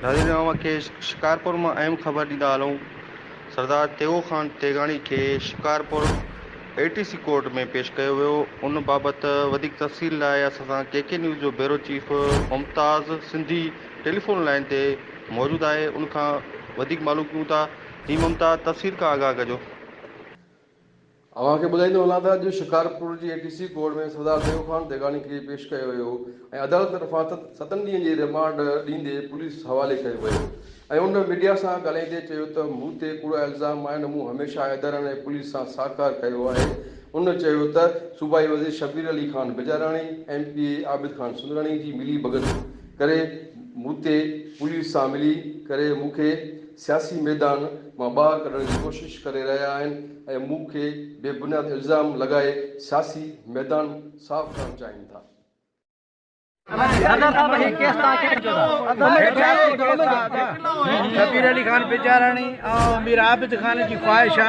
ناظرين اوهان کي شڪارپور مان اهم خبر ڏيندا هلون سردار تيغو خان تيغاڻي کي شڪارپور اي ٽي سي ڪورٽ ۾ پيش ڪيو ويو ان بابت وڌيڪ تفصيل لاء اسان سان ڪي ڪي نيوز جو bureau chief Mumtaz Sindhi telephone line تي موجود آهي ان کان وڌيڪ معلوم ڪيون ٿا جي ممتاز تفصيل کان آگاهه ڪجو. اوهان کي ٻڌائيندو هلان ته اڄ شڪارپور جي اي ٽي سي ڪورٽ ۾ سردار ديو خان ديگاڻي کي پيش ڪيو ويو ۽ عدالت طرفان ستن ڏينهن جي ريمانڊ ڏيندي پوليس حوالي ڪيو ويو ۽ ان ميڊيا سان ڳالهائيندي چيو ته مون تي ڪوڙا الزام آهن مون هميشه حيدر ۽ پوليس سان ساهڪار ڪيو آهي ان چيو ته صوبائي وزير Shabbir Ali Khan Bijarani M P A Abid Khan Sundrani جي ملي ڀڳت ڪري مون تي پوليس سان ملي ڪري مون کي سياسي ميدان مان ٻاهر ڪڍڻ جي ڪوشش ڪري رهيا آهن ۽ مون کي بي بنياد الزام لڳائي سياسي ميدان صاف ڪرڻ چاهين ٿا. شبير علي خان پيچاراڻي ۽ مير عابد خان جي خواهش آ.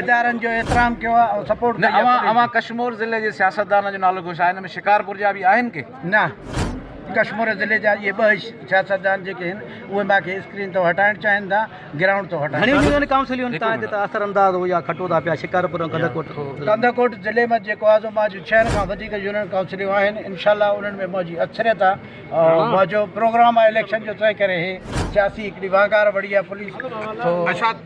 ادارن جو احترام ڪيو آ ۽ سپورٽ ڪئي آ نه اوهان ڪشمور ضلعي جي سياستدانن جو نالو گهوشا ان ۾ شڪارپور جا به آهن ڪي. نه ڪشمور ضلعي جا اهي ٻه سياستدان جيڪي هن اهي مان کي اسڪرين تون هٽائڻ چاهين ٿا گرائونڊ تون هٽائڻ گهڻيون يونين ڪائونسليون تان هتي اثر انداز هو يا کٽو ٿا پيا شڪارپور ۽ ڪنڌڪوٽ ڪنڌڪوٽ ضلعي مان جيڪو آ سو مان جي ڇهن کان وڌيڪ يونين ڪائونسليون آهن انشاء الله انهن ۾ مان جي اڪثريت آ ۽ مان جو پروگرام آ اليڪشن جو تنهن ڪري هي سياسي هڪڙي وانگار وڙي آ پوليس سو